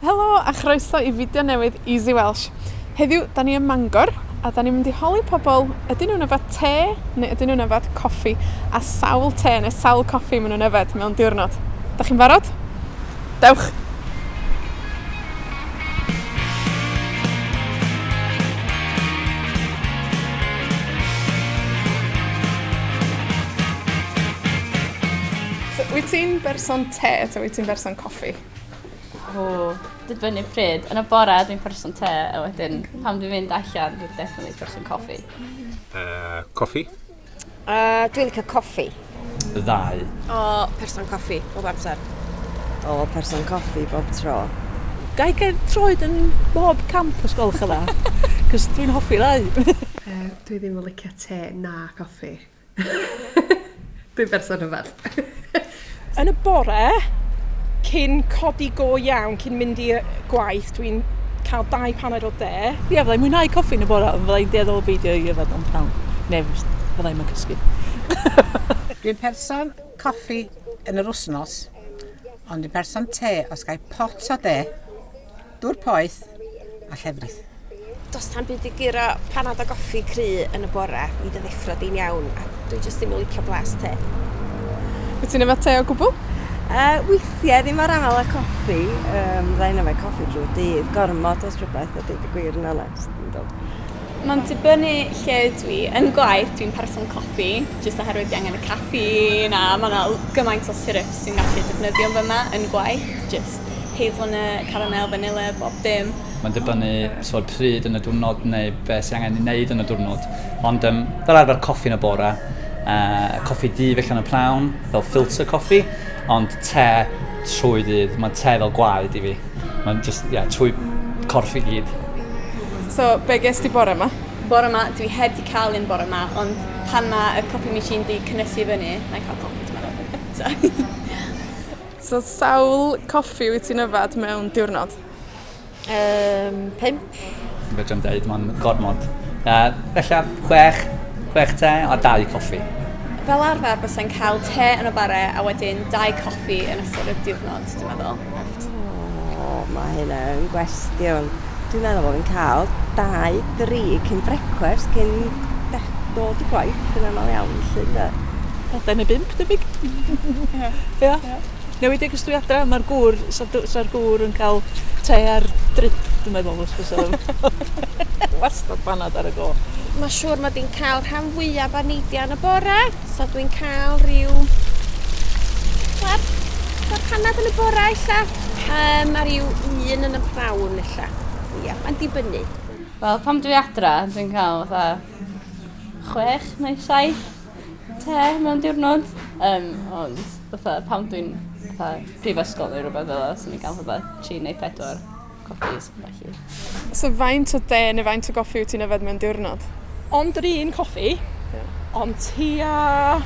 Helo, a chroeso i fideo newydd Easy Welsh. Heddiw, 'dan ni ym Mangor, a 'dan ni'n mynd i holi pobol, ydyn nw'n yfed te, neu ydyn nw'n yfed coffi, a sawl te ne' sawl coffi ma' nw'n yfed mewn diwrnod. 'Dach chi'n barod? Dewch! So, wyt ti'n berson te, ta wyt ti'n berson coffi? O, dibynnu pryd. Yn y bore, dwi'n person te, a wedyn pam dwi'n mynd allan, dwi'n definitely person coffi. Uh, coffi? Uh, dwi'n licio coffi. Ddau. O, person coffi, bob amser. O, person coffi, bob tro. Gai gael troed yn bob camp os gwelwch yn dda, cos dwi'n hoffi ddau. uh, dwi ddim yn licio te na coffi. Dwi'n berson rhyfedd. Yn y bore, cyn codi go iawn, cyn mynd i gwaith, dwi'n cael dau paned o de. Ie, yeah, fyddai'n mwynhau coffi yn y bore, ond fyddai'n dueddol o beidio i yfed o'n prawn. Neu fyddai'n mynd cysgu. dwi'n person coffi yn yr wsnos, ond dwi'n person te os gael pot o de. Dŵr poeth a llefrith. Does tam byd i guro panad a goffi cry yn y bore, mi dy ddeffro di'n iawn, a dwi jyst ddim yn licio blas te. Wyt ti'n yfed te o gwbl? Uh, weithiau, ddim ar aml a coffi, um, rhaid yfed coffi drwy dydd, gormod os rhywbeth, a dweud y gwir yn onest. Mae'n dibynnu lle dwi. Yn gwaith, dwi'n person coffi, jyst oherwydd fi angen y caffeine, a mae yna gymaint o syrups sy'n gallu defnyddio fy yma yn gwaith, jyst hazelnut, caramel, vanilla, bob dim. Mae'n dibynnu so pryd yn y diwrnod neu beth sy'n angen ei wneud yn y diwrnod. Ond um, fel arfer coffi yn y bore, uh, coffi di felly yn y prawn, fel filter coffi, ond te trwy ddydd. Mae te fel gwaed i fi. Mae'n just, yeah, trwy corff i gyd. So, be ges di bore yma? Bore yma, dwi heb di cael un bore yma, ond pan mae y coffi machine di cynnysu fyny, mae'n cael coffi, dwi'n meddwl. So sawl coffi wyt ti'n yfed mewn diwrnod? Yym, pump. Fedrai'm deud, mae'n gormod. Uh, felly, chwech, chwech te a dau coffi. Fel arfer, bysau'n cael te yn y bare a wedyn dau coffi yn ystod y diwrnod, dwi'n meddwl. O, mae hynna yn gwestiwn. Dwi'n meddwl bod fi'n cael dau, dri cyn brecwast cyn dech- dod i gwaith yn aml iawn, felly, ynde? Pedair neu bump, debyg. Ia. Ia. Ia. Newidig os dwi adra, mae'r gŵr, sa'r dw- sa'r gŵr yn cael te ar drip, dwi'n meddwl, os fysa fo. Wastad banad ar y go. Mae siŵr mod i'n cael rhan fwyaf o neidiau yn y bore. So dwi'n cael rhyw... Wel, tua canad yn y bora ella. Um, a rhyw un yn y prawn ella. Ia, mae'n dibynnu. Wel, pam dwi adra, dwi'n cael fatha chwech neu saith te mewn diwrnod. Um, ond fatha, pam dwi'n fatha prifysgol neu rhywbeth fel yna, sy'n ni'n cael fatha tri neu pedwar. So faint o de neu faint o goffi wyt ti'n yfed mewn diwrnod? Ond yr un coffi. Ie. Ond tua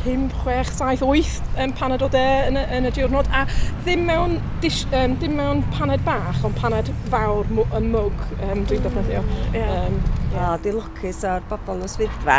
pump, chwech, saith, wyth yym paned o de yn y yn y diwrnod a ddim mewn dish yym dim mewn paned bach ond paned fawr mw- yn mwg yym dwi'n defnyddio. Ie. Yym. O, dwi lwcus o'r bobol yn y swyddfa.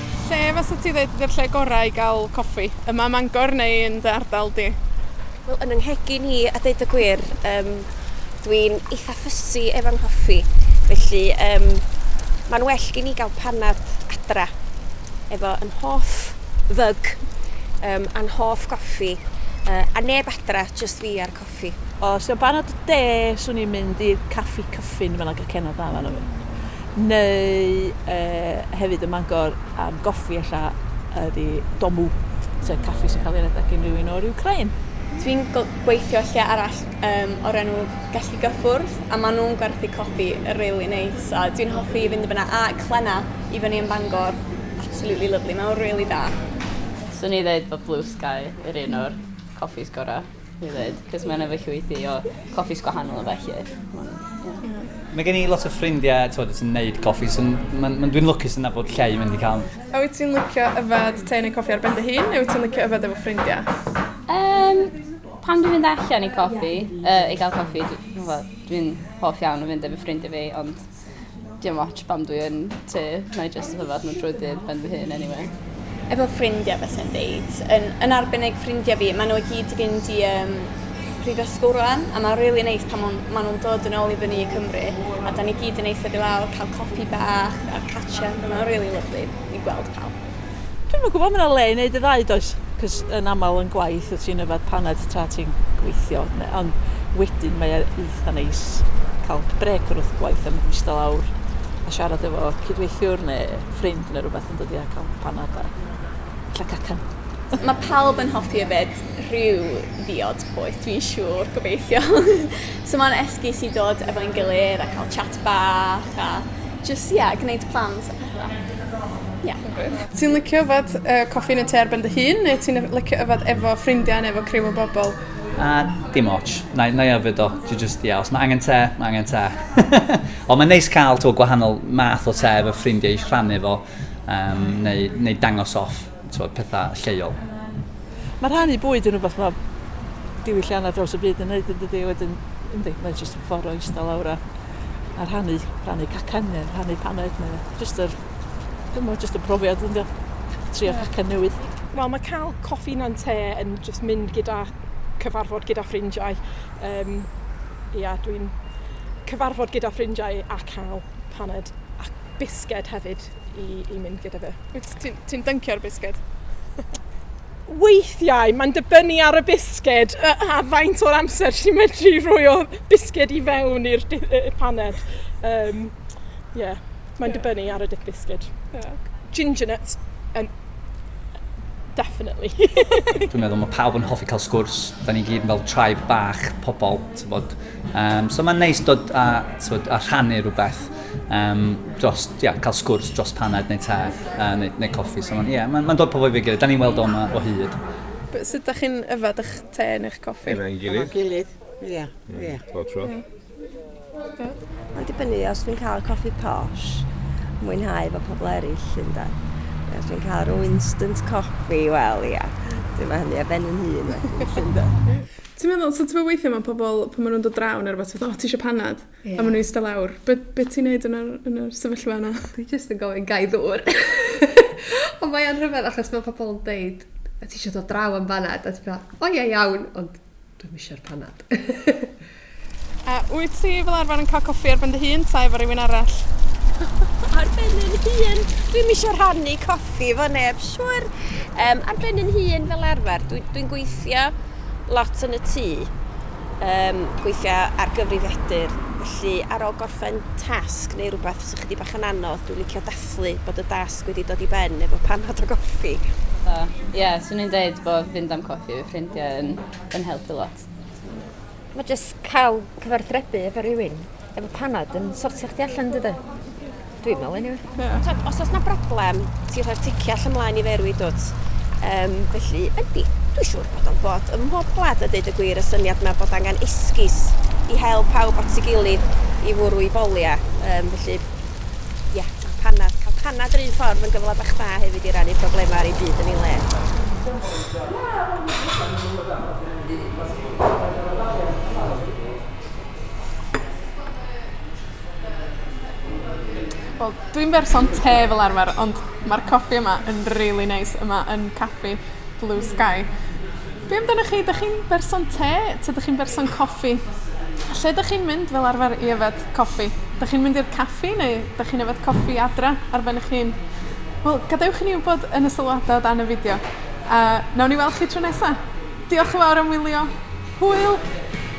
Lle fysat ti ddeud ydi'r lle gora i ga'l coffi? Yma ym Mangor neu yn dy ardal di? Wel, yn 'y nghegin i, a deud y gwir, yym, dwi'n eitha fussy efo nghoffi, felly, yym, ma'n well gin i ga'l panad adra, efo 'yn hoff fug, yym, a'n hoff goffi, yy, a neb adra, jyst fi a'r caffi. O, os 'di o'n banad y de, swn i'n mynd i'r Caffi Cyffin, mae'n agor cenod dda fan hyn. Neu uh, hefyd y Mangor am goffi ella ydi Domu, sef caffi sy'n cael ei redeg gen rhywun o'r Ukrain. Dwi'n gweithio lle arall um, o'r enw Gelli Gyffwrdd, a maen nhw'n gwerthu coffi rili really neis, a dwi'n hoffi fynd i fyna, a Clenna i fyny yn Bangor, absolutely lovely, mae'n rili really da. Swn i ddeud bod Blue Sky yr un o'r coffis gorau. I ddweud, cos mae'n efo llwythi o coffis gwahanol o felly. Mae gen i lot o ffrindiau, ti'n fawr, sy'n neud coffi, so mae'n ma dwi'n lwcus yna bod lle i mynd i cael. A wyt ti'n licio yfed te neu coffi ar ben dy hun, neu wyt ti'n licio yfed efo ffrindiau? Um, pan dwi'n mynd allan i coffi, uh, i gael coffi, dwi'n dwi hoff iawn o fynd efo ffrindiau fi, ond Dim ots pam dwi yn tŷ, na i jyst hyfod nhw drwy ddydd ben fy hun anyway efo ffrindiau fes yn deud, yn, yn arbennig ffrindiau fi, maen nhw i gyd i fynd i um, prifysgol rwan, a mae'n really neis pan maen nhw'n dod yn ôl i fyny i Cymru, a da ni gyd yn eithaf i lawr, cael copi bach a'r catch-up, mae'n really lyflu i gweld pawb. Dwi'm yn gwybod, mae yna le i wneud y ddau does? Cos yn aml yn gwaith wyt ti'n yfed paned tra ti'n gweithio, ond wedyn mae e eitha neis cael brec o'r wrth gwaith a mynd eistedd lawr a siarad efo cydweithiwr neu ffrind neu rhywbeth yn dod i a cael panad a lle cacan. Mae pawb yn hoffi yfed rhyw ddiod poeth, dwi'n siŵr, gobeithio. so mae'n esgus i dod efo'n gilydd a cael chat bach a jyst, ie, gwneud plans. Ia. Ti'n licio yfed yy coffi yn y tŷ ar ben dy hun neu ti'n yf- licio yfed efo ffrindia ne' efo criw o bobol? Yy, dim ots. 'Nai 'nai yfed o. Dwi jyst, ia, os ma' angen te, ma' angen te. Ond mae'n neis cael t'mo' gwahanol math o te efo ffrindiau i rhannu fo yym neu neu dangos off. t'wod, petha lleol. Ma' rhannu bwyd yn rwbath ma' diwyllianna draws y byd yn neud yndydi? Wedyn yndi mae jyst yn ffor o ista lawr a a rhannu rhannu cacen ne' rhannu paned ne' jyst yr dw'mo' jyst y profiad yndi o? Trio cacen newydd. Wel ma' ca'l coffi na'n te yn jyst mynd gyda cyfarfod gyda ffrindiau yym ia dwi'n cyfarfod gyda ffrindiau a ca'l paned a bisged hefyd. i i mynd gyda fe. Wyt ti'n ti'n dyncio'r bisged? Weithiau mae'n dibynnu ar y bisged a, a faint o'r amser ti'n medru rhoi o bisged i fewn i'r paned. Um, yeah. Mae'n yeah. dibynnu ar y dip bisged. Yeah. Ginger nuts yn definitely. Dwi'n meddwl mae pawb yn hoffi cael sgwrs. Da ni gyd fel tribe bach pobl, ti'n bod. Um, so mae'n neis dod a, bod, a rhannu rhywbeth. um, dros, ia, yeah, cael sgwrs dros paned neu te, uh, neu, neu coffi. So, ie, yeah, mae'n ma dod pobl i fi gilydd. Da ni'n weld o yma o hyd. But sut da chi'n yfad eich te neu'ch coffi? Efo'n gilydd. Efo'n gilydd, ie. Ie. Bob tro. Mae'n dibynnu os dwi'n cael coffi posh, mwynhau fo pobl eraill, ynda. Os dwi'n cael rhyw instant coffi, wel, ia. Dwi'n meddwl hynny a ben yn hun, ynda. Ti'n meddwl, so ti'n meddwl weithiau mae pobl, pan maen nhw'n dod draw neu rhywbeth, ti'n meddwl, o, ti eisiau panad? Ie. A ma' nw ista lawr. Be' be' ti'n neud yn yr yn y sefyllfa yna? Dwi jyst yn gofyn gai ddŵr? Ond mae o'n rhyfedd achos ma' pobol yn deud o tisio dod draw am banad? A ti fel o ie iawn ond dwi'm isio'r panad. A wyt ti fel arfer yn ca'l coffi ar ben dy hun 'ta efo rywun arall? Ar ben 'yn hun. Dwi'm isio rhannu coffi efo neb siŵr. Yym ar ben 'yn hun fel arfer dwi dwi'n gweithio lot yn y tŷ. um, gweithio ar gyfrifiadur. Felly, ar ôl gorffen tasg neu rhywbeth sy'n chydig bach yn anodd, dwi'n licio dathlu bod y dasg wedi dod i ben efo panad o goffi. Ie, uh, yeah, swn i'n dweud bod fynd am coffi efo ffrindiau yn, yn helpu lot. Mae jyst cael cyfarthrebu efo rhywun efo panad yn sortio chdi allan, dydy? Dwi'n meddwl, anyway. Yeah. So, os oes na broblem, ti rhoi'r ticia allan mlaen i ferwi, dwt. Um, felly, ydy, dwi'n siŵr bod o'n bod ym mhob gwlad a dweud y gwir y syniad yma bod angen esgus i hel pawb at ei gilydd i fwrw i bolia. Um, felly, ie, yeah, panad, cael panad yr un ffordd yn gyfle bach da hefyd i rannu problemau ar ei byd yn ei le. Yeah. Wel, dwi'n berson te fel arfer, ond ma'r coffi yma yn rili neis. Yma yn Caffi Blue Sky. Be' amdanach chi? 'Dach chi'n berson te? 'Ta 'dych chi'n berson coffi? Lle 'dych chi'n mynd fel arfer i yfed coffi? 'Dych chi'n mynd i'r caffi neu 'dych chi'n yfed coffi adra ar ben 'ych hun? Wel, gadewch i ni wbod yn y sylwada o dan y fideo, a nawn ni weld chi tro nesa. Diolch yn fawr am wylio. Hwyl!